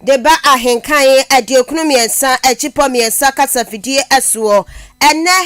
de ba Ahenka he aduokunu mmiɛnsa akyipɔ mmiɛnsa kasafidie soɔ. Ɛnnɛ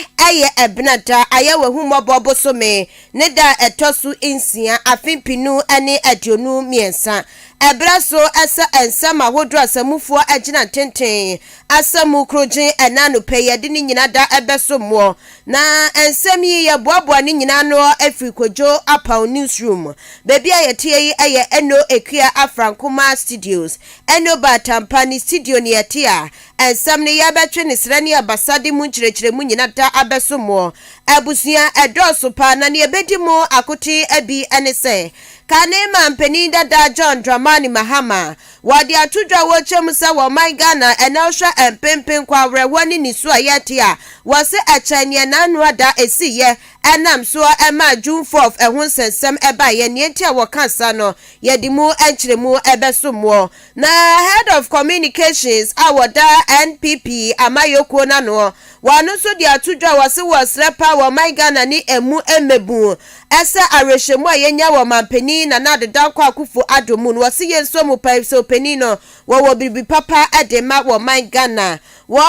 yɛ Ɛbenada, Ayɛ-w'ahummɔbɔ bosome ne da a ɛtɔ so nsia, afe mpenu ne aduonu mmiɛnsa. Ɛberɛ so sɛ nsɛm ahodoɔ a asammufoɔ agyina ntenten asa mu korogyen ɛnnɛ anɔpa yi, yɛde ne nyina da bɛsom woɔ Na nsɛm yi, yɛboaboa ne nyinaa ano firi Kwadwo Apaw Newsroom mu. Baabi a yɛteɛ yi yɛ Eno Akua Afrankomaa Studios. Eno Ba Atampa ne studio ne yɛte a nsɛm no yɛrebɛtwe ne serɛ ne abasade mu nkyerɛkyerɛmu nyina da abɛso mo abusua. Ɛdɔɔso paa na neɛ ɛbɛdi mo akotee bi ne sɛ, kane mampanin dada John Dramani Mahama, Wɔde ato dwa wɔ kyɛ mu sɛ wɔ ɔman Ghana a ɛnnɛ wohwɛ mpenpen kɔ awerɛhoɔ ne nisu a yɛrete a, wɔse ɛkyɛn neɛ n'ano ada ɛsiiɛ. Ɛnam so a ɛmaa June fourth ɛho nsɛnsɛm baeɛ. Neɛ nti a wɔka saa no, yɛde mu nkyerɛmu bɛsom mo. Na Head of Communications a wɔda NPP amayɔkuo no ano, wɔno nso de ato dwa a wɔse wɔresrɛ paa wɔ ɔman Ghana ne ɛmu mmɛbuu Ɛsɛ awerɛhyɛmu a yɛnya wɔ Ɔmanpanin Nana Addo Dankwa Akuffo Addo mu no, ɔse yɛn nsuo mu paa nsuo panin no, wɔwɔ biribi papa de ma wɔ man Ghana. Wɔ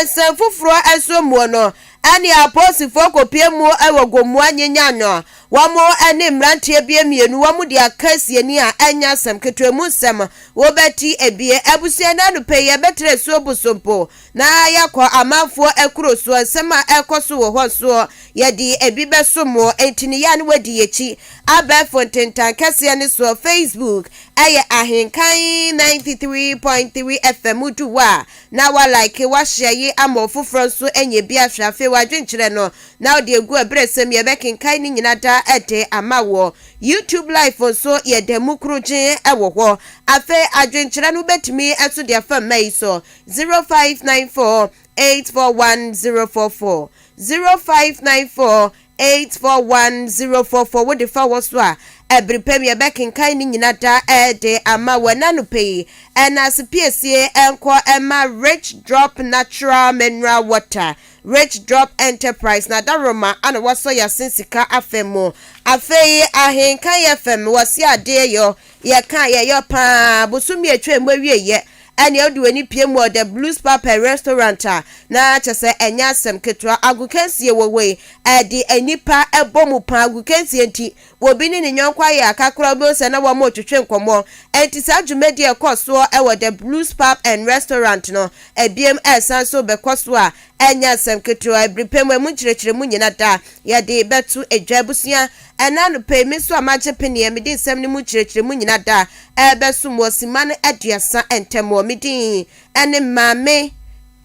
nsɛm foforɔ nso muo no, ɛne apolisifoɔ kɔpie mu wɔ Gomoa Nyenyan no, wɔn ne mmeranteɛ bie mmienu wɔn de aka asiani a ɛnyɛ asɛm ketewa mu nsɛm, wobɛte bie. Abusua nnɛ anɔpa yi yɛbɛtra asuo Bosompo Na yɛakɔ amanfoɔ akuro soɔ, nsɛm a ɛrekɔ so wɔ hɔ nsoɔ, yɛde ebi bɛso mo. Enti ne yea no wadi yɛakyi. Abɛɛfo ntentan kɛseɛ ne soɔ, Facebook, ɛyɛ Ahenkan 93.3 FM. Wodu hɔ a, na woalike, woahyɛ ye ama ɔfoforɔ nso anya bi ahwɛ. Afei w'adwenkyerɛ no, na wode agu aberɛsɛm, yɛbɛkenkan ne nyina da de ama woɔ. YouTube Live nso, yɛda mu korogyee wɔ hɔ. Afei adwenkyerɛ no wobɛtumi nso de afa mma yi so. 0594841044, 0594841044 wo de fa wɔ so a, ɛbere pa mu yɛbɛkenkan ne nyina da de ama wɔ ɛna nopɛ yi ɛna ase piesie ɛnkɔ ɛma Rich Drop Natural Mineral Water, Rich Drop Enterprise na Adaworoma ana wɔsɔ yɛasen sika afɛ mu. Afei Ahenkan FM wɔ se adeɛ yɔ yɛka yɛyɔ paa bosome atwa mu awieyɛ. Ɛnneɛ wode w'ani pue mu wɔ The Blues Pub and Restaurant a, na kyerɛ sɛ ɛnyɛ asɛm ketewa. Agokansie wɔ hɔ yi, ɛde nnipa bɔ mu paa. Agokansie nti, obi ne ne yɔnko ayɛ aka koraa a, wobɛhu sɛ na wɔretwetwe nkɔmmɔ. Enti saa dwumadi a ɛkɔ soɔ wɔ The Blues Pub and Restaurant no, ɛbiem resan nso rebɛkɔ so a, ɛnyɛ asɛm ketewa. Ɛbiri pɛ mu, ɛmu nkyerɛkyerɛmu nyina da, yɛde bɛto dwa. Abusua Ɛnnɛ anɔpa yi, me nso a magye peneɛ, mede nsɛm no mu nkyerɛkyerɛmu nyina da rebɛsom wɔ simma no aduasa ntɛmɔ. Me din ne Maame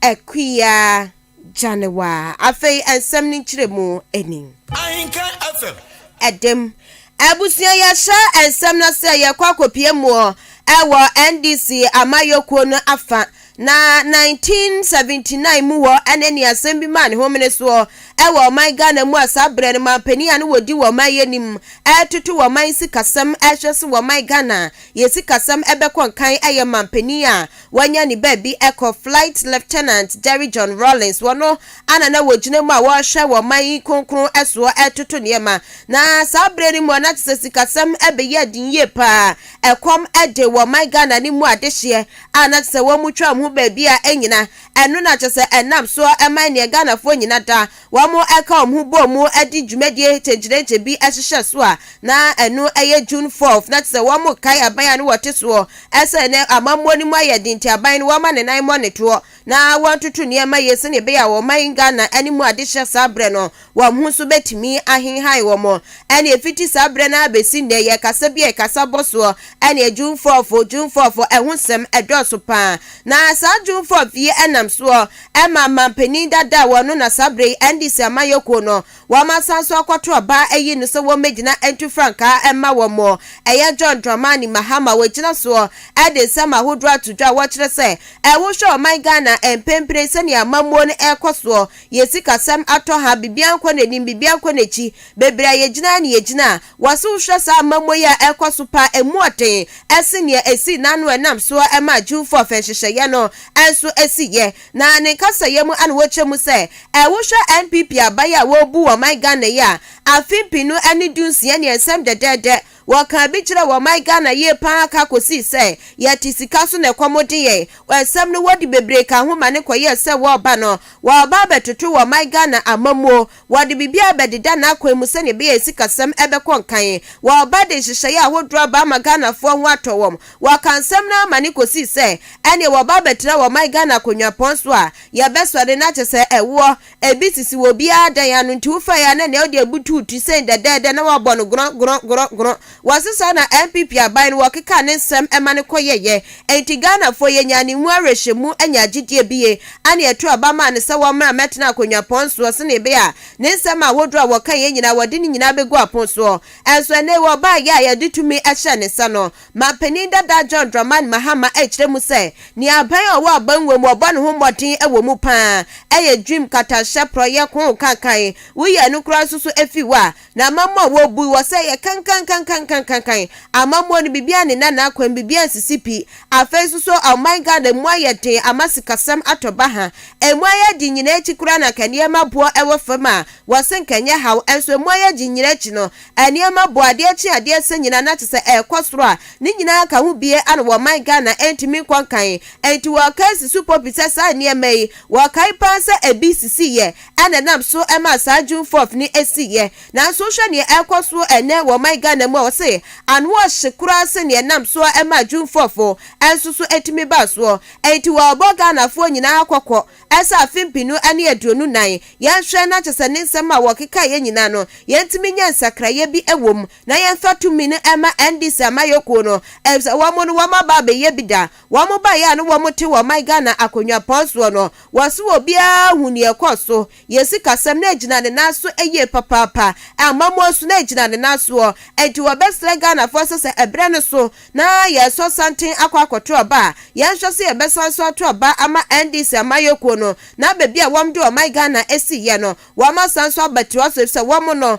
Akua Gyanewa. Afei nsɛm no nkyerɛmu ni. Ahenka FM. Ɛdem. Abusua yɛhyɛ nsɛm no ase a yɛkɔ akɔpie muɔ ɛwɔ NDC amayɔkuo no afa Na 1979 mu hɔ ne nea asɛm bi maa ne homene soɔ wɔ ɔman Ghana mu a saa berɛ no manpanin a na wɔdi wɔ ɔman yi anim retoto wɔ ɔman sikasɛm rehwɛ se wɔ ɔman Ghana yɛ sikasɛm bɛkɔ nkan yɛ manpanin a wanya ne baabi kɔ Flight Lieutenant Jerry John Rawlings wɔno ana na wɔgyina mu a wɔrehwɛ wɔ ɔman yi kronkron soɔ retoto nneɛma na saa berɛ no mu a na kyesɛ sikasɛm beyɛɛ den yie paa ɛkɔm de wɔ ɔman Ghana no mu adehyeɛ a na kyesɛ wɔn twa wɔn ho baabi a ɛnyina, ɛno na kyesɛ ɛnam soɔ ɛma ɛneɛ Ghanafoɔ nyina da wɔn ɛka wɔn ho bɔ mu ɛde dwumadie kyenkyerɛnkyɛ bi ɛhyehyɛ so a na ɛno ɛyɛ June fourth na kyesɛ wɔn kae aban a na wɔte soɔ ɛsɛ ɛnɛ amammuo no mu ayɛ den nti aban no wɔma ne nan mɔ ne toɔ na wɔntoto nneɛma yie sɛdeɛ ɛbɛyɛ a wɔman Ghana ne mu ade hyɛ saa berɛ no wɔn ho nso bɛtumi ahenhan wɔn. Ɛne ɛfiti saa berɛ no ara bɛsi nnɛ yɛ kasa bi a ɛkasa bɔ soɔ ɛne June 4th, June 4th, ɛho nsɛm ɛdɔɔso paa. Na saa June 4th yi ɛnam soɔ ɛma manpanin dada a wɔno na saa berɛ yi NDC amanyɔkuo no Wɔasan nso akɔto ɔbaa ayi no sɛ wɔmmɛgyina ntu frankaa mma wɔn mo. Ɛyɛ John Dramani Mahama wɔgyina soɔ de nsɛm ahodoɔ ato dwa a wɔkyerɛ sɛ wohwɛ ɔman Ghana a mprempren sɛdeɛ amammuo no ɛrekɔ soɔ, yɛn sikasɛm atɔ ha, biribiara nkɔ n'anim, biribiara nkɔ n'akyi, bebree a yɛgyina ara na yɛgyina a Wɔse wohwɛ saa amammui a ɛrekɔ so paa a emu ɔden sen nea esii no ano a ɛnam so ara maa Jewfo afɛnhyehyɛeɛ no nso siiɛ. Na ne nkasayɛ mu na wɔkyerɛ mu sɛ, ɛ Wohwɛ NPP aban a wɔrebu wɔ ɔman Ghana yi a afe mpenu ne dunsia ni nsɛm dɛdɛɛdɛ wɔkaa bi kyerɛɛ wɔ ɔman Ghana yie paa ara ka kɔsii sɛ yɛte sika so na ɛkɔm de yɛn wɔ nsɛm no wɔde bebree kaa ho ma no kɔyɛɛ sɛ wɔreba no wɔreba abɛtoto wɔ ɔman Ghana amammuo Wɔde biribiara bɛdeda n'akwan mu sɛnea ɛbɛyɛ a sikasɛm bɛkɔ nkan. Wɔreba de nhyehyɛeɛ ahodoɔ aba ama Ghanafoɔ ho atɔ wɔn. Wɔkaa nsɛm no ara ma no kɔsii sɛ ɛnneɛ wɔba abɛtena wɔn man Ghana akonwapɔn so a, yɛbɛsɔre na kyɛ sɛ ɛwoɔ. Ebi sisi wɔ obiara dan ano nti wofaeɛ a na nea ɔde abutu wo ti sɛn dɛdɛɛdɛ na woabɔ no gorɔn gorɔn gorɔn gorɔn. Wɔse saa na NPP aban no wɔkekaa ne nsɛm ma no kɔyɛeɛ. Enti Ghanafoɔ yɛnyaa ne mu awerɛhyɛmu nyaa gyedie bie ɛne ɛto aba maa no sɛ wɔmmra mmɛtena akonnwa pɔn soɔ senee bɛyɛ a ne nsɛm ahodoɔ a wɔkaeɛ nyinaa wɔde ne nyinaa bɛgu apon soɔ. Nso ɛnɛ yi ɔbaeɛ a yɛde tumi hyɛɛ ne nsa no, Manpanin dada John Dramani Mahama ɛkyerɛ mu sɛ nea aban a ɔwɔ aban wɔ mu ɔbɔ ne ho mmɔden wɔ mu paa ɛyɛ dwim, katanhyɛ, porɔeɛ, koo, kankan. Woyi ɛno koraa nso so firi hɔ a, Na amammua a wobui wɔ sɛ yɛ kankankankankankan. Amammua no biribiara nni n'anan kwan, biribiara nsisi pi. Afei nso so ɔman Ghana emu ayɛ den ama sikasɛm atɔ baha. Emu ayɛ den nyinaa akyi koraa na anka nneɛma boɔ wɔ fam a wɔse anka ɛnyɛ haw. Nso emu ayɛ den nyinaa akyi no, nneɛma boɔ, adeɛ kye adeɛ sɛ nyinaa na kyesɛ ɛrekɔ soro a ne nyinaa anka ho bie ano wɔ ɔman Ghana ɛntumi nkɔ nkan. Nti wɔrekae si so popi sɛ saa nneɛma yi, wɔkae paa sɛ ɛbi sisiiɛ na ɛnam so maa saa June fourth no siiɛ. Nanso wohwɛ neɛ ɛrekɔ so ɛnnɛ wɔ ɔman Ghana mu a, wɔse ano ɔhye koraa sene neɛ ɛnam so maa June fourth nso so tumi baa soɔ. Enti wɔrebɔ Ghanafoɔ nyinaa kɔkɔ sɛ afe mpenu ne aduonu nnan, yɛnhwɛ na kyesɛ ne nsɛm a wɔkekaeɛ nyinaa no yɛntumi nyɛ nsakraeɛ bi wɔ mu na yɛmfa tumi no mma NDC amayɔkuo no, efisɛ wɔn no wɔaba abɛyɛ bi da. Wɔn baeɛ a na wɔn te wɔ ɔman Ghana akonnwa pɔn soɔ no, wɔse obiara hu neɛ ɛkɔɔ so. Yɛn sikasɛm na ɛgyina ne nan so yie papaapa. Amammuo nso na ɛgyina ne nan soɔ. Enti wɔbɛsrɛ Ghanafoɔ sɛ sɛ ɛberɛ no so na yɛresɔ santen akɔ akɔto aba a, yɛnhwɛ sɛ yɛbɛsan nso ato aba ama NDC amanyɔkuo no na baabi a wɔde ɔman Ghana asiiɛ no, wɔasan nso abɛtoa so efisɛ wɔn no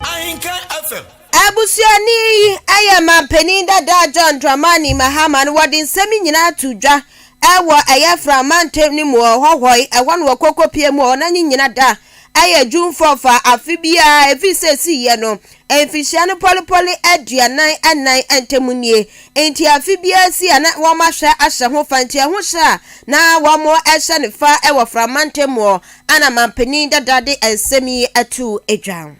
Ahenkan FM. Abusuani yi yɛ manpanin dada John Dramani Mahama no wɔde nsɛm yi nyinaa too dwa wɔ ɛyɛ Fra mantam no mu wɔ Hɔhɔe ɛhɔ no wɔ Kokopie mu wɔ na nye nyina da ɛyɛ June four fa afe biara ɛfiri sɛ ɛsii yɛ no mfihyia no pɔlepɔle aduanan ɛnan ntam nie nti afe biara si a na wɔn ahwɛ ahyɛ ho fa nti ɛho hyɛ a na wɔn hyɛ no fa wɔ Fra mantam wɔ Ana mampanin dada de nsɛm yi atuu adwa.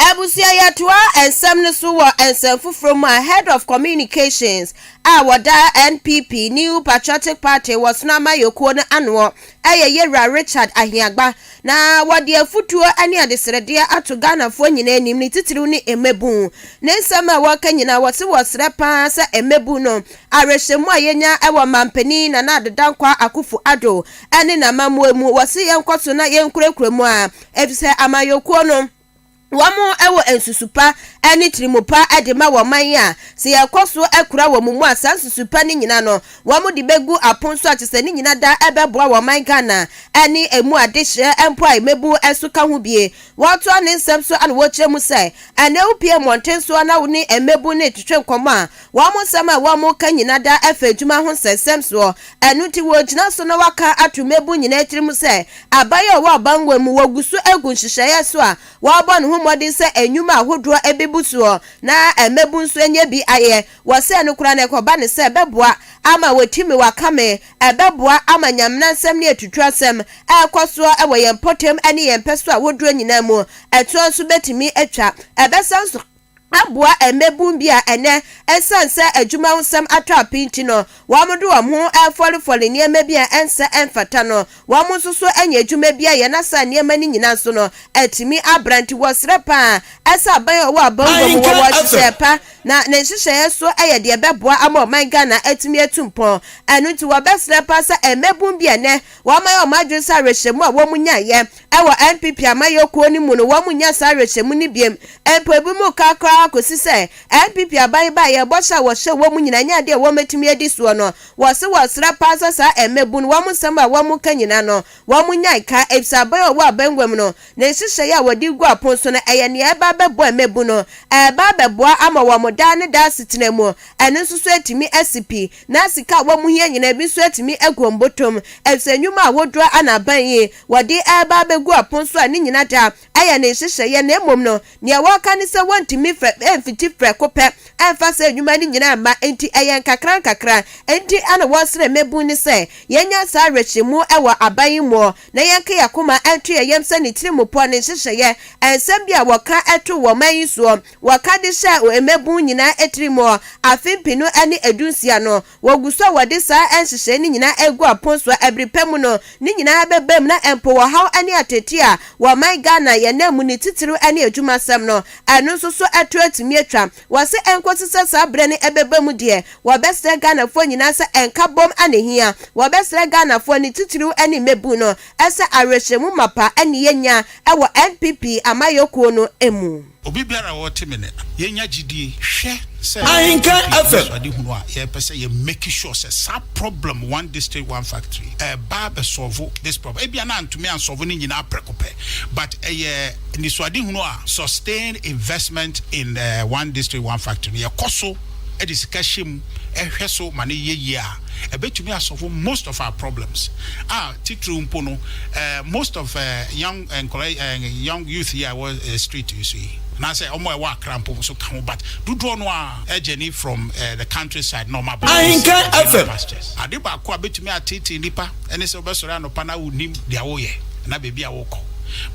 Abusua yɛtoa nsɛm no so wɔ nsɛm foforɔ mu a Head of Communications a wɔda NPP, New Patriotic Party, wɔ Sono Amayɔkuo no anoɔ yɛ Yɛwura Richard Ahiagba na wɔde afutuo ne adesrɛdeɛ ato Ghanafoɔ nyinaa anim ne titiriw ne mmabun. Ne nsɛm a wɔka nyinaa wɔse wɔsrɛ paa sɛ mmabun no awerɛhyɛmu a yɛnya wɔ mampanin Nana Ado Dankwa Akufo-Addo ɛne n'amammuo mu, wɔse yɛnkɔ so na yɛnkurakura mu a, efisɛ amanyɔkuo no wɔn wɔ nsusu pa ne tirimu pa de ma wɔn man a, sɛ yɛkɔ so kura wɔn mu a, saa nsusu pa no nyina no, wɔn de bɛgu apon so a, kyɛ sɛ ne nyina da ɛbɛboa wɔn man Ghana ne ɛmu adehyeɛ mpo a mmabu nso ka ho bie. Wɔtoa ne nsɛm so na wɔkyerɛ mu sɛ, ɛnnɛ wopie mmɔnten so na wo ne mmabu no retwetwe nkɔmmɔ a, Wɔn nsɛm a wɔka nyina da fa adwuma ho nsɛnsɛm soɔ, ɛno nti wɔgyina so na wɔaka ato mmabun nyinaa tirim sɛ aban a ɔwɔ abanwoɔ mu wɔgu so agu nhyehyɛeɛ so a wɔbɔ ne ho mmɔden sɛ nnwuma ahodoɔ bɛbu soɔ na mmabun nso anya bi ayɛ wɔ sɛ no koraa no ɛkɔba no sɛ ɛbɛboa ama wɔatumi wɔakame ɛbɛboa ama nyamenansɛm ne atuturasɛm a ɛkɔ soɔ wɔ yɛn mpɔtam ne yɛn mpɛsoa ahodoɔ nyinaa mu ɛtoɔ nso bɛtumi atwa ɛbɛsan nso aboa mmabun bi a ɛnnɛ esiane sɛ adwuma ho nsɛm atɔ apee nti no, wɔde wɔn ho refɔrefɔre nneɛma bi a ɛnsɛ ɛmfata no. Wɔn nso so anya adwuma bi ayɛ na saa nneɛma no nyinaa nso no atumi abra. Nti wɔsrɛ paa sɛ aban a ɔwɔ abangua mu wɔ wɔ nhyehyɛe pa na ne nhyehyɛe nso yɛ deɛ ɛbɛboa ama ɔman Ghana atumi atu mpɔn. Ɛno nti wɔbɛsrɛ paa sɛ mmabun bi a ɛnnɛ wɔayɛ wɔn adwene sɛ awerɛhyɛmu a wɔnyaeɛ Ɛwɔ NPP amayɔkuo no mu no wɔn nnya saa awerɛhyɛmu no biom mpo ebi mu ka koraa kɔsi sɛ NPP aban baeɛ bɔhyɛ a wɔhyɛɛ wɔn nyinaa nyɛ adeɛ a wɔn bɛtumi adi soɔ no wɔ se wɔ srɛ paa sɛ saa mmabun wɔn nsɛm a wɔn ka nyinaa no wɔn nya nka efisɛ aban a ɔwɔ abɛnguam no ne nhyehyɛeɛ a wɔde gu apon so no ɛyɛ nea ɛreba abɛboa mmabun no ɛreba abɛboa ama wɔn daa ne daa asetena mu ɛno nso so atumi asi pi na sika a wɔn hia nyinaa ebi nso atumi agu wɔn botom efisɛ nnwuma ahodoɔ a na aban yi Wɔde reba abegu apon so a ne nyina da a yɛ ne nhyehyɛeɛ na mmom no neɛ wɔka ne sɛ wɔntumi mfɛ mfiti prɛko pɛ mfa saa nnwuma no nyinaa mma nti ɛyɛ nkakra nkakra nti na wɔsrɛ mmabun no sɛ yɛnya saa awerɛhyɛmu wɔ aban yi muɔ na yɛnka yɛ akoma nto yɛ yam sɛ ne tirimupɔ ne nhyehyɛeɛ nsɛm bi a wɔka too wɔ ɔman yi soɔ wɔka de hyɛɛ mmabun nyinaa tiri muɔ afe mpenu ne adunsia no Wɔgu so a wɔde saa nhyehyɛe no nyinaa agu apon so a bere pa mu no, ne nyinaa bɛbam na mpo ɔhaw ne ateetee a wɔ ɔman Ghana yɛn nna mu ne titiriw ne adwumasɛm no, ɛno nso so to atumi atwa. Wɔse ɛnkosi sɛ saa bere no ɛbɛba mu deɛ, wɔbɛsrɛ Ghanafoɔ nyinaa sɛ nkabom na ɛhia. Wɔbɛsrɛ Ghanafoɔ ne titiriw ne mmabun no sɛ awerɛhyɛmu mapa ne yɛnya wɔ NPP amayɔkuo no mu. Obi biara a ɔte me nne no, yɛnya gyidie. Hwɛ sɛ Ahenka yɛn pii FM. anisoadehunu a yɛpɛ sɛ yɛ make sure sɛ saa problem one district one factory ɛɛba abɛ solve this problem. Ebia na antumi an solve ne nyinaa prɛko pɛ but ɛyɛ anisoadehunu a sustained investment in one district one factory no yɛkɔ so de sika hyɛ mu hwɛ so ma no yɛ yie a ɛbɛtumi a solve most of our problems a titiriw mpo no most of young Nkɔla yi ɛɛ young youth yi a ɛwɔ ɛɛ street yi so yi anaasɛ wɔn a ɛwɔ Accra mpo nso ka ho but dodoɔ no ara ɛɛ journey from ɛɛ the country side na wɔn aba ɛɛ Ahenka FM. pastures. Ade baako a bɛtumi ateetee nnipa ɛne sɛ wobɛsɔre anɔpa na wonnim deɛ woreyɛ anaa baabi a worekɔ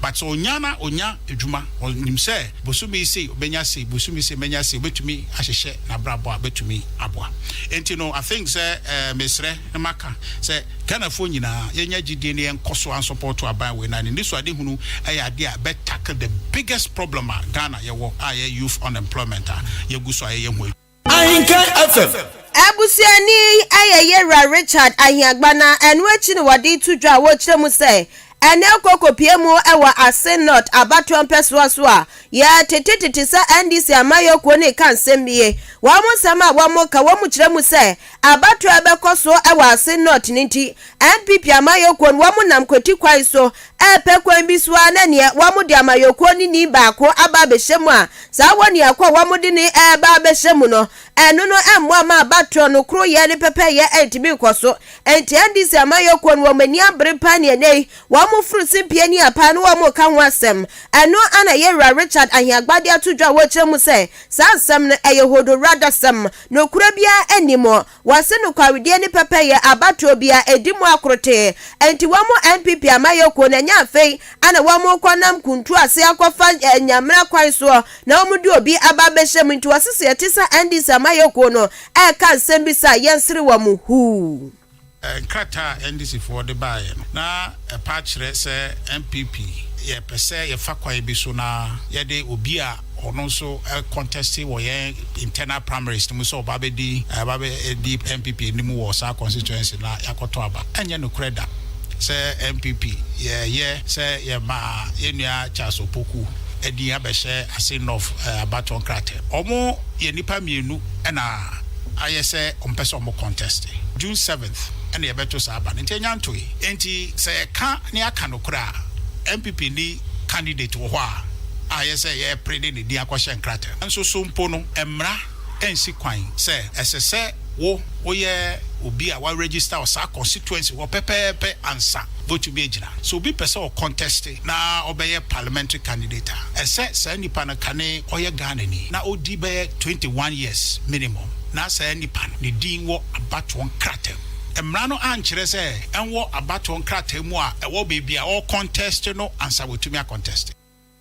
but sɛ ɔnya na ɔnya adwuma ɔnim sɛ bosome yi sei ɔbɛnya sei bosome sei mɛnya sei ɔbɛtumi ahyehyɛ nabrabɔ a bɛtumi aboa ɛnti no I think sɛ ɛɛ mesrɛ na maka sɛ Ghanafoɔ nyinaa yɛnya gyidie na yɛnkɔso ansɔpɔɔto aban wei na ne nisuadehunu yɛ adeɛ a ɛbɛ tackle the biggest problem a Ghana yɛwɔ a ɛyɛ youth unemployment a yɛgu so a yɛyɛ ho adwuma. Ahinkan FM. Abusuani yi yɛ Yewura Richard Ahiagba na ɛno akyi na wɔde reto dwa a wɔrekyerɛ mu sɛ ɛnnɛ rekɔ kɔpue mu wɔ Asin North abatoɔ mpɛsoa so a yɛtete tete sɛ NDC amayɔkuo no reka nsɛm nie. Wɔn nsɛm a wɔka, wɔkyerɛ mu sɛ Abatoɔ a ɛbɛkɔ so wɔ Asin North no nti, NPP amayɔkuo no wɔn nam kwati kwan so repɛ kwan bi so ara na neɛ wɔn de amayɔkuo no ni baako aba abɛhyɛ mu a saa wɔniako a wɔn de no reba abɛhyɛ mu no ɛno no mmoa ma abatoɔ no koroyɛ ne pɛpɛyɛ ntumi nkɔ so nti NDC amayɔkuo no wɔn ani abere paa neɛ ɛnɛ yi wɔn foro se piania paa no wɔn reka ho asɛm ɛno ana yɛwura Richard Aheagbade ato dwa a wɔkyerɛ mu sɛ saa nsɛm no ɛyɛ hodowradasɛm Nokorɛ biara nni mu. Wɔse nokwaredie ne pɛpɛyɛ abatoɔ bi a ɛdi mu akorotee. Enti wɔn NPP amayɔkuo no ɛnyɛ afei na wɔn rekɔ nam kuntu ase akɔfa nyamena kwan soɔ na wɔn de obi aba abɛhyɛ mu nti wɔsese ɛte sa NDC amayɔkuo no ɛreka nsɛm bi sa yɛnsere wɔn huu. Nkrataa a NDCfoɔ de baeɛ no, na ɛpa kyerɛ sɛ NPP yɛpɛ sɛ yɛfa kwan bi so na yɛde obi a ɔno nso kɔntɛste wɔ yɛn internal primaries no mu sɛ ɔba bɛdi ɛba bɛdi NPP anim wɔ saa constituency no a yɛakɔtɔ aba. Ɛnyɛ nokorɛ da sɛ NPP yɛyɛ sɛ yɛma yɛn nua Charles Opoku din abɛhyɛ Assin North abatoɔ nkrataa mu. Wɔyɛ nnipa mmienu. ɛna ayɛ sɛ ɔmpɛ sɛ ɔmo contest. June seventh ɛna yɛbɛto saa aba no nti enya ntoe. Enti sɛ yɛka na yɛaka nokorɛ a, NPP nni candidate wɔ hɔ a ayɛ sɛ yɛrepre de ne din akɔhyɛ nkrataa mu. Nanso so mpo no mmara nsi kwan sɛ ɛsɛ sɛ wo woyɛ obi a wa register wɔ saa constituency hɔ pɛpɛɛpɛ ansa wobetumi agyina. Sɛ obi pɛ sɛ ɔcontest na ɔbɛyɛ parliamentary candidate a, ɛsɛ saa nipa no kane ɔyɛ Ghanani na ɔdi bɛyɛ twenty one years minimum na saa nipa no ne din wɔ abatoɔ nkrataa mu. Mmara no ankyerɛ sɛ ɛnwɔ abatoɔ nkrataa mu a ɛwɔ baabi a ɔre contest no ansa watumi a contest.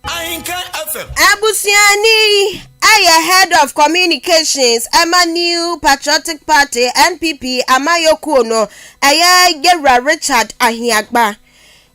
Ahenkan FM. Abusuani yi yɛ Head of Communications ma New Patriotic Party, NPP, amayɔkuo no, ɛyɛ Yɛwura Richard Ahiagba.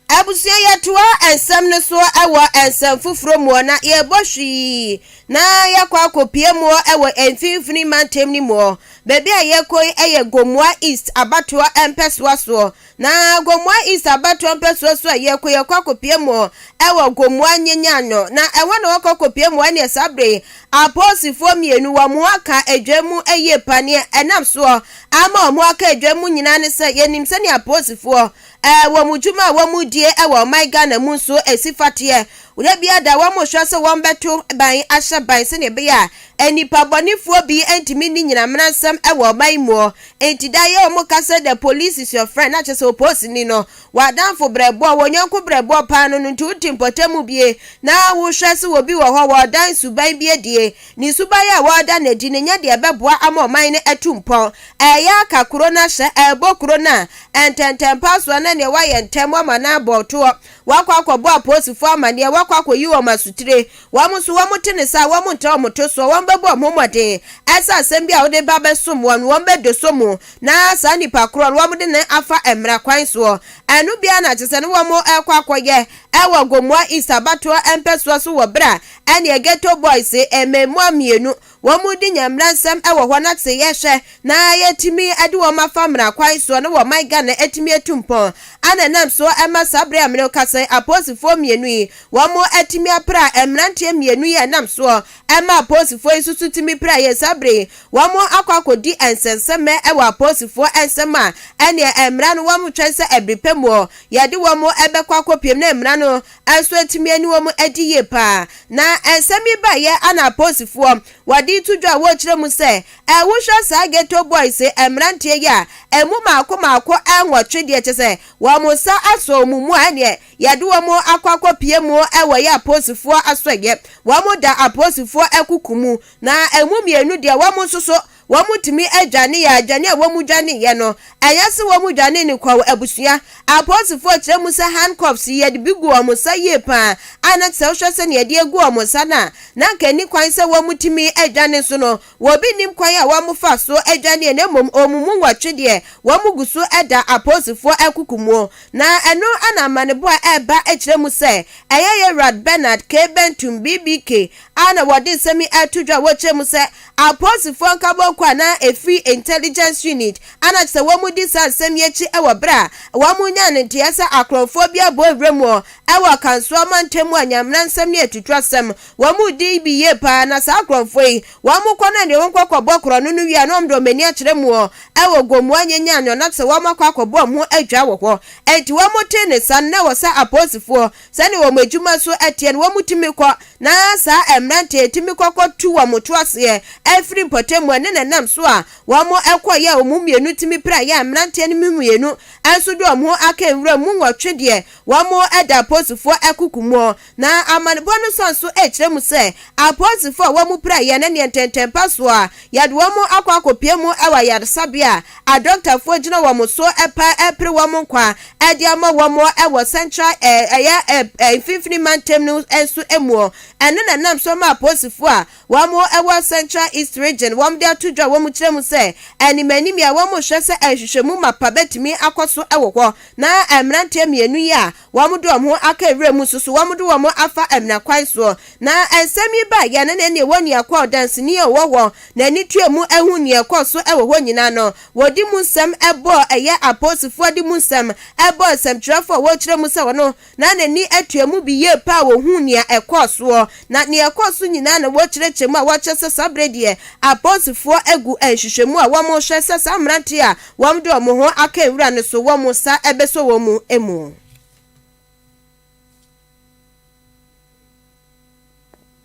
Abusua yɛtoa nsɛm no so wɔ nsɛm foforɔ muɔ na yɛbɔ hwii na yɛakɔ akɔpie muɔ wɔ mfimfini mantam no muɔ. Baabi a yɛkɔ yi yɛ Gomoa East abatoɔ mpɛsoa soɔ na Gomoa East abatoɔ mpɛsoa so a yɛkɔ yɛkɔ akɔpie muɔ wɔ Gomoa Nyenyano na ɛhɔ na wɔkɔ kɔpie muɔ ɛneɛ saa berɛ yi apolisifoɔ mmienu wɔn aka adwa mu yie pa neɛ ɛnam soɔ ama wɔn aka adwa mu nyinaa ne sɛ yɛnim sɛdeɛ apolisifoɔ Ɛ wɔ mo dwuma a wɔn die ɛ wɔ ɔman Ghana mu nso ɛ si fateɛ. Wura bi ada wɔn mo hwɛ sɛ wɔn bɛ to ban ahyɛ ban sɛdeɛ ɛbɛyɛ a ɛ nnipa bɔnefoɔ bi ɛ ntumi nni nyina mmaransɛm ɛ wɔ ɔman yi muɔ. Nti da yɛ wɔn ka sɛ the police is your friend na kyɛ sɛ oposini no wɔ adamfo brɛboɔ wɔn yɔnko brɛboɔ paa no no nti wo te mpɔtam bie na wo hwɛ sɛ wɔ bi wɔ hɔ wɔ ɔdan suban bi adie Ne suban a wɔreda no adi no nyɛ deɛ ɛbɛboa ama ɔman no atu mpɔn. Ɛreyɛ aka kuro no ahyɛ, ɛrebɔ kuro no a, ntɛntɛmpa soɔ na neɛ wayɛ ntɛm wama no abɔ toɔ, wakɔ akɔbɔ apolisifoɔ amaneɛ, wakɔ akɔyi wɔn asotire. Wɔn nso wɔte ne saa, wɔntra wɔn to soɔ, wɔbɛbɔ wɔn ho mmɔden sɛ asɛm bi a wode ba bɛsom wɔn no, wɔbɛdɔsɔ mu na saa nipa korɔ no wɔde no afa mmara kwan soɔ. Ɛno biara na kyerɛ sɛ na wɔrekɔ akɔyɛ wɔ Gomoa East abatoɔ mpɛsoa so wɔ berɛ a ɛneɛ ghetto boys mmɛɛmua mmienu wɔn mo di nyamera nsɛm wɔ hɔ na te yɛ hwɛ na yɛ tumi de wɔn afa mmara kwan soɔ na wɔ man Ghana atumi atu mpɔn ana ɛnam so ɛma saa berɛ a mene wo kasa yi apolisifoɔ mmienu yi wɔn mo atumi apra mmeranteɛ mmienu yi ɛnam soɔ ɛma apolisifoɔ yi nso so tumi pra yɛ saa berɛ yi wɔn mo akɔ akɔ di nsɛnsɛmɛ ɛwɔ apolisifoɔ nsɛm a ɛneɛ mmara no wɔn mo twɛn sɛ ɛbiri pɛ muɔ yɛde wɔn mo ɛbɛkɔ akɔ piem na mmara no Ɛnso atumi ani wɔn adi yie paa. Na nsɛm yi baeɛ a na apolisifoɔ wɔde reto dwa a wɔrekyerɛ mu sɛ, eh, wohwɛ saa ghetto boys mmeranteɛ yi a, ɛmu maako maako nwɔtwe deɛ kyɛ sɛ wɔn nsa asɔ wɔn mu a ɛneɛ yɛde wɔn akɔ akɔpie mu wɔ yɛ apolisifoɔ asɔeɛ. Wɔn da apolisifoɔ akuku mu na ɛmu mmienu deɛ wɔn nso so Wɔtumi adwane yɛ adwane a wɔdwaneeɛ no. Ɛnyɛ sɛ wɔdwanee no kɔɔ abusua. Apolisifoɔ kyerɛ mu sɛ handcuffs yi, wɔde bi gu wɔn nsa yie pa ara, a na sɛ wohwɛ sɛdeɛ wɔde agu wɔn nsa no a, na anka ɛnni kwan sɛ wɔtumi dwane nso no, obi nnim kwan a wɔfaa so dwaneeɛ na mmom wɔn mu nwɔtwe deɛ, wɔgu so da apolisifoɔ akuku mu. Na ɛno na amanebɔ a ɛreba kyerɛ mu sɛ ɛyɛ Yɛwurad Bernard K. Bentum, BBK, a na wɔde nsɛm yi ato dwa a wɔkyerɛ mu sɛ Apolisifoɔ nkabɔɔ kɔ a na ɛfiri Intelligence Unit a na kyerɛ sɛ wɔn di saa nsɛm yi akyi wɔ berɛ a wɔn nyaa no nteɛ sɛ akorɔmfoɔ bi abɔ nwura mu hɔ wɔ Kansoa mantam mu a Nyamena nsɛm no yɛ tutuasɛm. Wɔn di bi yie pa ara na saa akorɔmfoɔ yi wɔn kɔ na deɛ wɔn kɔ kɔ bɔ korɔno no wie a na wɔn de wɔn ani akyerɛ mu hɔ wɔ Gomoa Nyenyan no na kyerɛ sɛ wɔn akɔ akɔ bɔ wɔn ho adwaa wɔ hɔ. Ɛnti wɔn tee ne saa no na ɛwɔ sɛ apolisifoɔ sɛnea wɔn adwuma so teɛ no, wɔtumi kɔ, na saa mmerante yi tumi kɔ kɔtu wɔn to aseɛ afiri mpɔtam mu. Ɛne na ɛnam so a wɔkɔeɛ a wɔn mu mmienu tumi piraeɛ a mmeranteɛ no mu mmienu nso de wɔn ho aka nwura mu nwɔtwe deɛ wɔda apolisifoɔ akuku mu. Na amanebɔ no san so kyerɛ mu sɛ apolisifoɔ a wɔpiraeɛ no ne ntɛntɛmpasoɔ a Yɛde wɔn akɔ akɔpue mu wɔ ayaresabea a adɔktafoɔ gyina wɔn so pa repere wɔn nkwa de ama wɔn wɔ Central ɛyɛ mfimfini mantam no nso mu. Ɛno na nam so ma apolisifoɔ a wɔwɔ Central East Region wɔn de ato dwa a wɔkyerɛ mu sɛ animanimyɛ a wɔhwɛ sɛ nhwehwɛmu mapa bɛtumi akɔ so wɔ hɔ na mmeranteɛ mmienu yi a Wɔde wɔn ho aka nwura mu nso so, wɔde wɔn afa amena kwan soɔ. Na nsɛm yi baa yɛn ne ɛnneɛ wɔn nua kɔ a ɔdanseni a ɔwɔ hɔ na ani tua mu ahu nea ɛkɔɔ so wɔ hɔ nyinaa no. Wɔde mu nsɛm bɔɔ ɛyɛ apolisifoɔ de mu nsɛm bɔɔ nsɛmtwerɛfoɔ a wɔrekyerɛ mu sɛ ɔno na n'ani tua mu bi yie paa a wɔhuu nea ɛkɔɔ soɔ. Na nea ɛkɔɔ so nyinaa na wɔkyerɛkyerɛ mu a wɔkyerɛ sɛ saa berɛ deɛ apolisifoɔ agu nhwehwɛmu a wɔrehwɛ sɛ saa mmeranteɛ a Wɔn de wɔn ho aka nwura no so, wɔn nsa bɛsɔ wɔn mu mu.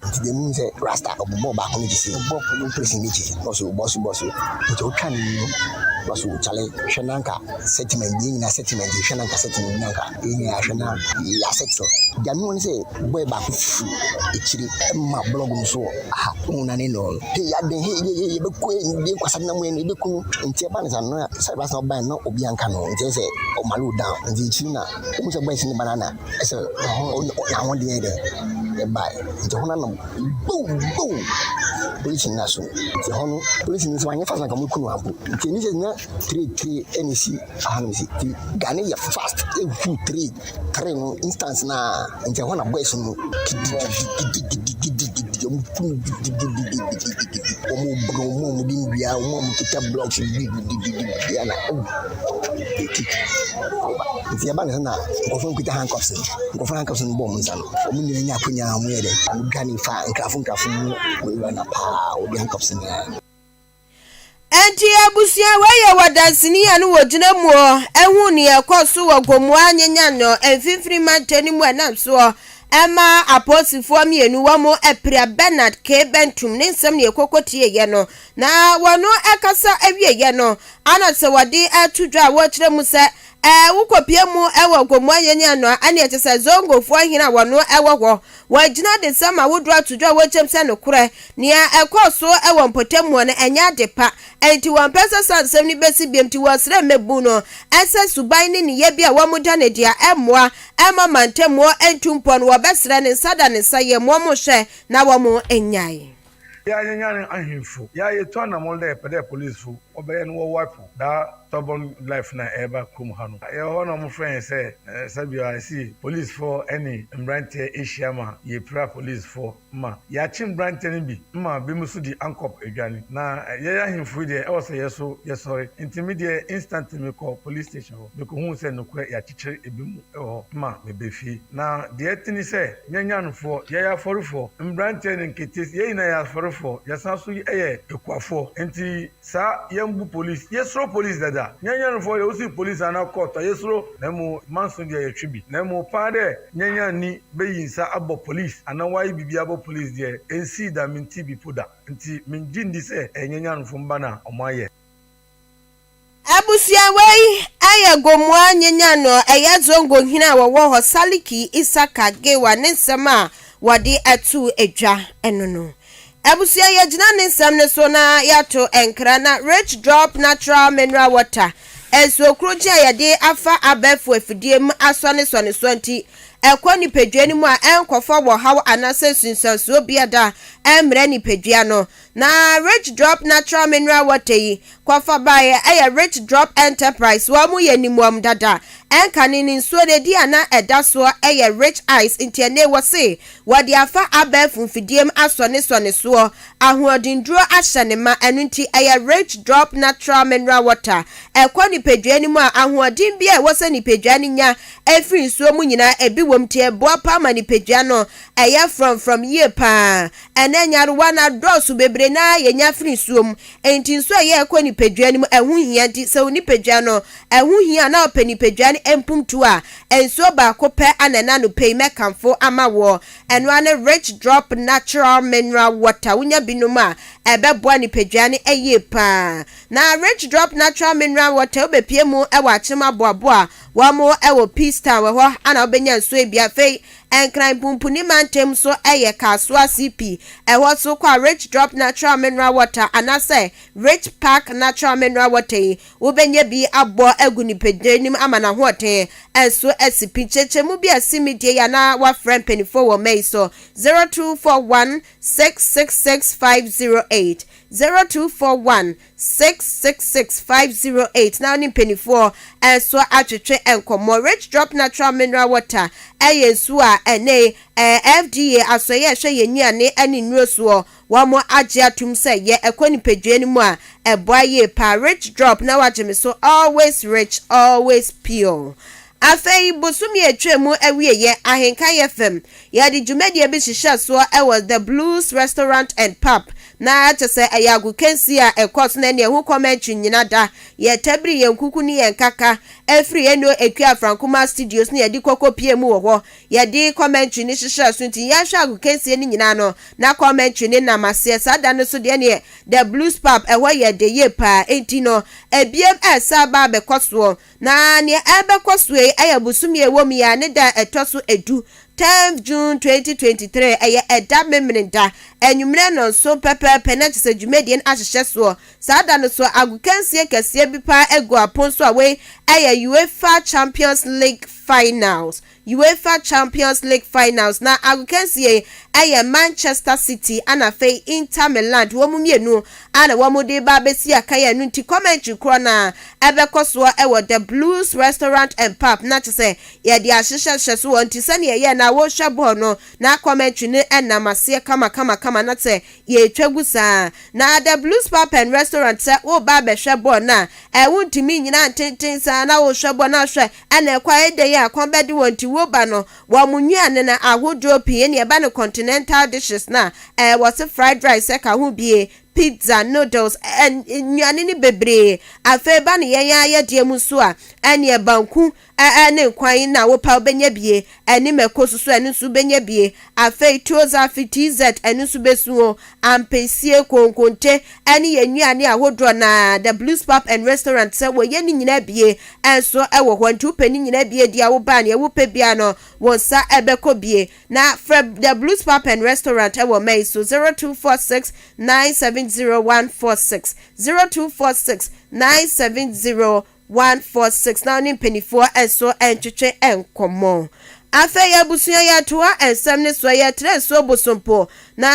nti deɛ mu sɛ rasta ɔbobɔ baako no gyesi presi ne gyesi bɔso bɔso bɔso nti ɔtwa ne mu bɔso kyale hwɛ nanka sentiment bi nyina sentiment hwɛ nanka sentiment nanka Yɛn nyinaa hwɛ na yɛyɛ asetew. Deɛ ano ne sɛ boy baako firi akyiri ma blɔg no so wɔ ha ɔhu na ne nɔɔ no. Hei adɛn hei yɛyɛ yɛbɛkɔ yɛ yɛ nkwasa nam yɛn yɛbɛku no nti ɛba ne sɛ ano na sɛ ɛba sɛ ɔba no ɔbi anka no nti sɛ ɔma low down nti akyiri na ɔhu sɛ boy si ne ba no ana ɛsɛ n'ahoɔden yɛ dɛ ɛbae nti hɔ no ano bow bow polisi no na so nti hɔ no polisi no sɛ wanyɛ fast na nka ɔmɛku no ampo nti ɛni sɛ nya tire tire ɛna ɛsi Faham dze, Ghana yɛ fast ehu three three no instance no a, nkyɛ hɔ na boys no gidigidigidigidigidi wɔn kum gidigidigidigidi wɔn obunu wɔn a wɔn de ndua wɔn a wɔn kita blocks gidigidigidi ɛna ɛwu eti ɔba nti ɛba ne sɛ na nkɔfo nkita handcuffs no nkɔfo handcuffs no bɔ wɔn nsa no wɔn nyinaa nya akonya wɔn yɛ dɛ wɔn dwane fa nkrafo nkrafo mu wɔn wura na paa wɔn de handcuffs nyinaa. Enti abusua wei yɛ wɔ danseni a no wɔ gyina mu ɔ, ɛhu nea ɛkɔ so wɔ Gomoa nye Nyan ɔ, mfinfini mantam no mu ɛnam so ɔ, ɛma apolisifoɔ mmienu wɔn apira Bernard K. Bentum ne nsɛm nea ɛkɔkɔ tieeɛ no. Na wɔn ɛkasa ɛwieɛ no, ana sɛ wɔde ɛto dwa a wɔkyerɛ mu sɛ Ɛɛ, wokopue mu wɔ Gomoaye ne Anoa ɛne ɛte sɛ Zongofoɔ hene a wɔno wɔ hɔ. Wɔagyina adesɛm ahodoɔ ato dwa a wɔkyɛm sɛ nokorɛ. Nea ɛkɔɔ so wɔ mpɔtamuo no, ɛnyɛ ade pa. Ɛnti wɔmpɛ sɛ saa nsɛm no bɛsi biom nti wɔsrɛ mmɛbuu no sɛ suban ne nneyɛɛ bi a wɔda no adi a ɛmmoa mma mantamuo ntu mpɔ no wɔbɛsrɛ ne nsa da ne nsa yɛm wɔn hwɛ na wɔn nnyae. Yɛ a yɛnyane ahemfo. Yɛ a yɛtu anammɔn dɛ yɛpɛ dɛ polisfo wɔbɛyɛ no wɔ Waco daa tɔbɔn life no a ɛreba kurom ha no. Yɛwɔ hɔ na wɔfrɛ yɛn sɛ Sabio a ese polisfo ne mberantsɛ ehyia ma yepira polisfo ma yɛakye mberantsɛ no bi ma binom so di ankɔp edwan. Na yɛyɛ ahemfo yi deɛ ɔwɔ sɛ yɛ so yɛsɔre. Ntsi me deɛ instantly mekɔ police station hɔ. Mekohun sɛ nokorɛ yɛakyekyer binom. hɔ ma mebɛ fie. Na deɛ ɛte ne sɛ, yɛn nyanfoɔ, yɛyɛ afɔrefoɔ, mmeranteɛ ne nketees, yɛn nyinaa yɛ afɔrefoɔ, yɛsan so yɛ akuafoɔ, enti saa yɛmbu polis, yɛsuro polis dada, yɛn nyanfoɔ deɛ wosi polis anaa kɔɔto a yɛsuro, na mmom manso deɛ yɛtwe bi, na mmom paa dɛ yɛn nyanni bɛyi nsa abɔ polis anaa wayɛ biribi abɔ polis deɛ ɛnsii da, mentee bi po da, enti mengye ndi sɛ ɛyɛ yɛn nyanfo mba na wɔayɛ. Abusuawa yi yɛ Gomoa Nyenyano a ɛyɛ Zongo hene a wɔwɔ hɔ Saliki Isaka Gewa ne nsɛm a wɔde to dwa no no. Abusua yɛgyina ne nsɛm no so na yɛato nkra na Rich Drop Natural Mineral Water nsuo korogye a yɛde afa abɛɛfo afidie mu asɔ ne sɔnesoɔ nti ɛkɔ nipadua no mu a ɛnkɔfa wɔhaw anaasɛ nsunsuansoɔ biada ɛmmrɛ nipadua no Na Rich Drop Natural Mineral Water yi, kɔfa baeɛ, ɛyɛ Rich Drop Enterprise, wɔn mu yɛ nim wɔn dada. Ɛnkane no, nsuo no ɛdi a na ɛda soɔ yɛ Rich Ice, nti ɛnnɛ yi wɔse wɔde afa abɛɛfo mfidie mu asɔ ne sɔ ne soɔ, ahoɔdennuro ahyɛ no ma, ɛno nti ɛyɛ Rich Drop Natural Mineral Water, ɛkɔ nipadua no mu a, ahoɔden biara a ɛwɔ sɛ nipadua no nya firi nsuo mu nyinaa ɛbi wɔ mu, nti ɛboa paa ma nipadua no ɛyɛ frɔmfrɔm yie paa. Ɛnnɛ nyarewa no adɔɔso bebree no ara yɛnya firi nsuo mu. Enti nsuo a ɛyɛ a ɛkɔ nipadua no mu, ɛho hia. Enti sɛ wo nipadua no, ɛho hia a na wopɛ nipadua no mpumptuo a, nsuo baako pɛ na ɛnnɛ anɔpa yi mɛkamfo ama woɔ. Ɛno ara ne Rich Drop Natural Mineral Water. Wonya bi nom a, ɛbɛboa nipadua no yie pa ara. Na Rich Drop Natural Mineral Water, wobɛpue mu wɔ Akyem Aboabo a wɔwɔ Peace Town hɔ na wobɛnya nsuo yi bi. Afei Nkran Punpuni mantam so yɛ Kasoa CP, ɛhɔ so kɔ a Rich Drop Natural Mineral Water anaasɛ Rich Park Natural Mineral Water yi wobɛnya bi abɔ agu nipadua anim ama n'ahoɔden nso asi pi. Nkyerɛkyerɛmu bi a ɛsen medie yi anaa woafrɛ mpanimfoɔ wɔ mma yi so 0241 666 508, 0241 six six six five zero eight na ɔne mpanimfoɔ nso atwetwe nkɔmmɔ. Rich Drop Natural Mineral Water yɛ nsuo a ɛnɛ FDA asɔeɛ a ɛhwɛ yɛn nnuane ne nnuro soɔ wɔn agye atom sɛ yɛ ɛkɔ nipadua no mu a ɛboa yie paa. Rich Drop na wagye me so always rich always pure. Afei bosome a ɛtwa mu awieɛ Ahenkan FM yɛde dwumadie bi hyehyɛ soɔ wɔ The Blues Restaurant and Pub Na kyɛ sɛ ɛyɛ agokansi a ɛkɔ so na ɛne ɛho kɔm ankye nnyina da. Yɛtabiri yɛn nkuku ne yɛn nkaka firi Eno Ekwi Afrankumaa Studios na yɛde kɔ kɔpie mu wɔ hɔ. Yɛde kɔm ankye no hyehyɛɛ so nti yɛhwɛ agokansie no nyinaa no na kɔm ankye no nam aseɛ. Saa da no nso deɛ neɛ The Blues Pub ɛhɔ yɛ dɛ yie paa nti no ɛbiem ɛresa aba abɛkɔ soɔ. Na nea ɛrebɛkɔ so yi yɛ bosome a ɛwɔ mu yi ara ne da a ɛtɔ so edu, 10th June 2023, ɛyɛ ɛda Memeneda, anwummere nnɔnson pɛpɛɛpɛ, na kyerɛ sɛ dwumadie no ahyehyɛ soɔ. Saa da no so, agokansie kɛseɛ bi pa ara agu apon so a wei yɛ UEFA Champions League Finals Uefa Champions League Finals na agokansie yi ɛyɛ Manchester City ɛna afei Inter Miland wɔn mmienu a na wɔn de ba abɛsi akan ɛno nti commentary korɔ no ara ɛbɛkɔ soɔ ɛwɔ The Blues Restaurant and Pub na kyɛ sɛ yɛde ahyehyɛ hyɛ so hɔ nti sɛdeɛ ɛyɛ na wɔrehwɛ bɔɔl no na commentary no ɛnam aseɛ kamakamakama na sɛ yɛretwa gu saa na The Blues Pub and Restaurant sɛ woreba abɛhwɛ bɔɔl no a ɛɛ wontumi nnyina ntenten saa na worehwɛ bɔɔl no ahwɛ Ɛna ɛkwae dɛn a kɔn bɛde wɔn nti woba no wɔn nnuane ahodoɔ pii ne ɛba no continental dishes no a ɛɛ wɔse fried rice ɛka ho bie, pizza, noodles ɛɛ nnuane no bebree afei ba no yɛn ara yɛdeɛ mu nso a ɛneɛ banku ɛɛ ne nkwan na wopɛ a wobɛnya bie Ɛne mako so so ɛno nso wobɛnya bi. Afei Toza fi TZ ɛno nso bɛsu o. Ampesie, konkonte ɛne yɛn nnuane ahodoɔ no ara, The Blues Pub and Restaurant sɛ wɔyɛ ne nyinaa bi nso wɔ hɔ. Nti wopɛ ne nyinaa bi adi a woba a neɛ wopɛ biara no wo nsa bɛkɔ bi. Na frɛ The Blues Pub and Restaurant wɔ mɛ yi so, 0246 970 146, 0246 970 one four six na wo ne mpanimfoɔ nso ntwetwe nkɔmmɔ. Afei abusua yɛtoa nsɛm no soɔ yɛtrɛ nsuo bosompo na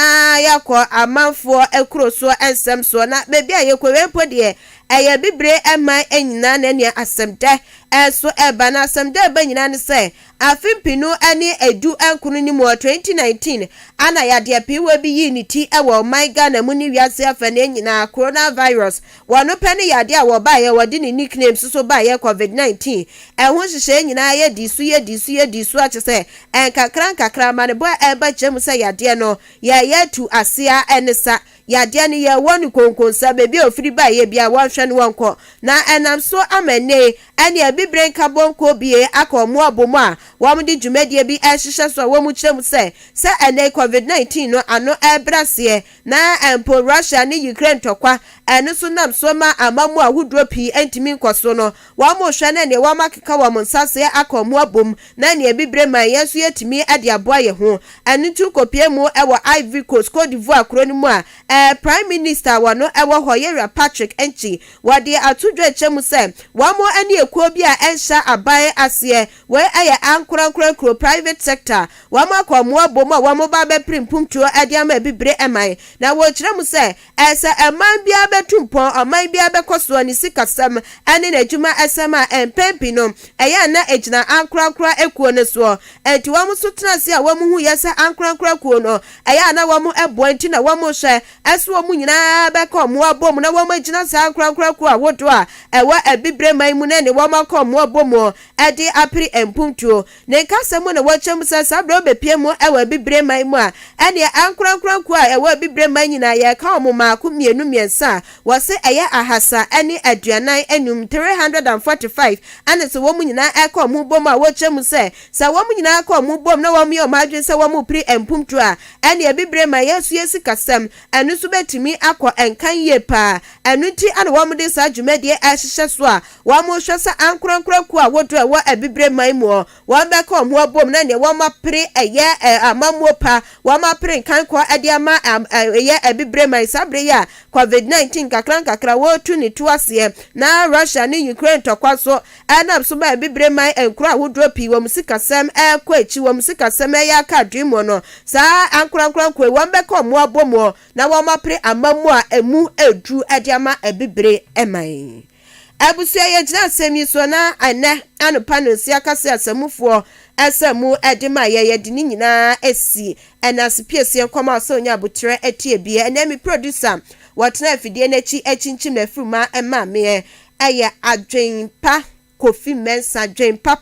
yɛakɔ amanfoɔ kuro soɔ nsɛm soɔ na baabi a yɛkɔ wei mpo deɛ ɛyɛ bibire man nyinaa na ɛnea asɛmdɛ nso ɛba na asɛmdɛ ɛba nyinaa ne sɛ Afe mpenu ne edu nkron no mu wɔ 2019, ana yadeɛ pee wɔ bi yii ne ti wɔ ɔman Ghana mu ne wiase afaneɛ nyinaa, coronavirus, wɔno pɛ ne yadeɛ a wɔbaeɛ wɔde ne nickname soso baeɛ covid 19, ɛho nhyehyɛeɛ nyinaa yɛ dii so yɛ dii so yɛ dii so akyesɛ nkakra nkakra amanebɔ a ɛreba kyerɛ mu sɛ yadeɛ no yɛɛyɛ atu aseɛ a ɛne sa. Yadeɛ no yɛ wɔn nkonkonsa, baabi a ɔfiri baeɛ biara wɔnhwɛ no wɔnkɔ, na ɛnam so ama ɛnnɛ yi ɛnneɛ bibire nkabom kuo bue aka wɔn abom a wɔde dwumadie bi rehyehyɛ so a wɔkyerɛ mu sɛ, sɛ ɛnnɛ yi Covid nineteen no ano rebrɛ aseɛ na mpo Russia ne Ukraine ntɔkwa a ɛno nso nam so ma amammuo ahodoɔ pii ntumi nkɔ so no, Wɔhwɛ na nea wɔakeka wɔn nsa ase aka wɔn abom na nea abibire ma yɛn nso yɛatumi de aboa yɛn ho. Ɛno nti wokɔpuee mu wɔ Ivory Coast, Côte d'Ivoire kuro no mu a Prime Minister a wɔno wɔ hɔ yɛ Wura Patrick Antwi. Wɔde ato dwa akyerɛ mu sɛ wɔne ekuo bi a ɛnhyɛ aban aseɛ, wei yɛ ankorankoro akuro, private sector, wɔaka wɔn abom a wɔreba abɛpere mpuntuo de ama abibire man na wɔkyerɛ mu sɛ, Sɛ man biara bɛtu mpɔn, ɔman biara bɛkɔ soɔ ne sikasɛm ne n'adwumasɛm a, mpɛn pii no, ɛyɛ a na ɛgyina ankorankoro akuo no soɔ. Enti wɔn nso tena ase a wɔhuiɛ sɛ ankorankoro akuo no, ɛyɛ a na wɔboa enti na wɔhwɛ sɛ wɔn nyinaa bɛka wɔn abom na wɔagyina saa ankorankoro akuo ahodoɔ a ɛwɔ Abibire man mu no ne wɔn akɔ wɔn abom de apere mpuntuo. Ne nkasa mu na wɔkyerɛ mu sɛ saa bere a obepue mu wɔ abibire man mu a, ɛnneɛ ankorankoro akuw a ɛwɔ abibire man nyinaa, yɛka wɔn mmaako, mmienu, mmiɛnsa a, wɔse ɛyɛ ahasa ne aduanan anum, 345, ɛne sɛ wɔn nyinaa ɛka wɔn ho bom a, wɔkyerɛ mu sɛ, sɛ wɔn nyinaa ka wɔn ho bom na wɔyɛ wɔn adwene sɛ wɔrepere mpomtu a, ɛnneɛ abibire man, yɛn nso yɛn sikasɛm, Ɛno nso bɛtumi akɔ nkan yie pa ara. Ɛno nti na wɔde saa dwumadie yi ahyehyɛ so a wɔrehwɛ sɛ ankorankoro akuo a wɔdɔ a ɛwɔ abibire man mu hɔ, wɔbɛka wɔn ho abom na deɛ wɔapere ɛyɛ amammuo pa, wɔapere nkankɔ de ama ɛyɛ abibire man. Saa berɛ yi a Covid 19 nkakrankakra wɔretu ne tuo aseɛ na Russia ne Ukraine ntɔkwa nso Ɛnam so ma Abibire man nkuro ahodoɔ pii wɔn sikasɛm rekɔ akyi, wɔn sikasɛm reyɛ aka adwemmuo no. Saa ankorankoro nko yi, wɔbɛka wɔn abɔ mu na wɔapere amammuo a ɛmu duru de ama Abibire man. Abusua, yɛgyina asɛm yi so na ɛnnɛ anɔpa no nsi aka sɛ asamufoɔ asamu de ma yɛn, yɛde ne nyinaa si. Ɛnase piesie nkɔm a ɔsɛ ɔnya aboterɛ tie bi. Ɛnɛ me producer Wɔtena afidie no akyi akyinkyim afuru ma ɛma meɛ ɛyɛ adwen pa Kofi Mensah dwen papa.